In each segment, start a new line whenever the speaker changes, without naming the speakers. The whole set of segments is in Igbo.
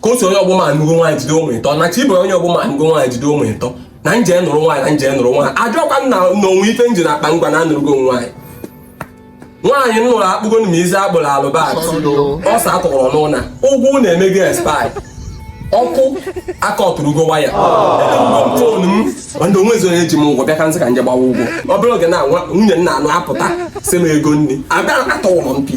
ka otu onye ọgbọ m anụgo nwaanyị jide ụmụ ịtọ na chibu onye ọgbọ m anụgo nwaanyị jide ụmụ ịtọ na m je nụrụ nwaanyị na m je nụrụ nwaanyị ajụkwa m na o nwe ife m ji n'akpa ngwa na anụrụgo nwaanyị nwaanyị m nụrụ akpụgonụ m isi akpụrụ alụbọsa akọrọ n'ụnọ ụgwọ ụnọ emego expire ọkụ akatụrụgo waya fon m ndị ọnwa ezuo eji m ụgwọ bịa ka m sị ka m je gbawa ụgwọ obere oge na nwunye m na-anụ apụta si m ego nri abịa atọwụrụ m pi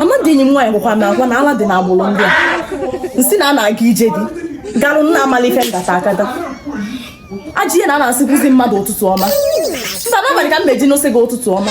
amadị enyi m nwaanyị gwakwa m agwa na ala dị n'agbụrụ ndị a m sị na a na-aga ije di garụ nna amala ife ngata akata ajị ihe na a na-asịkwuzi mmadụ ụtụtụ ọma mba n'abalị ka m meji asị gị ụtụtụ ọma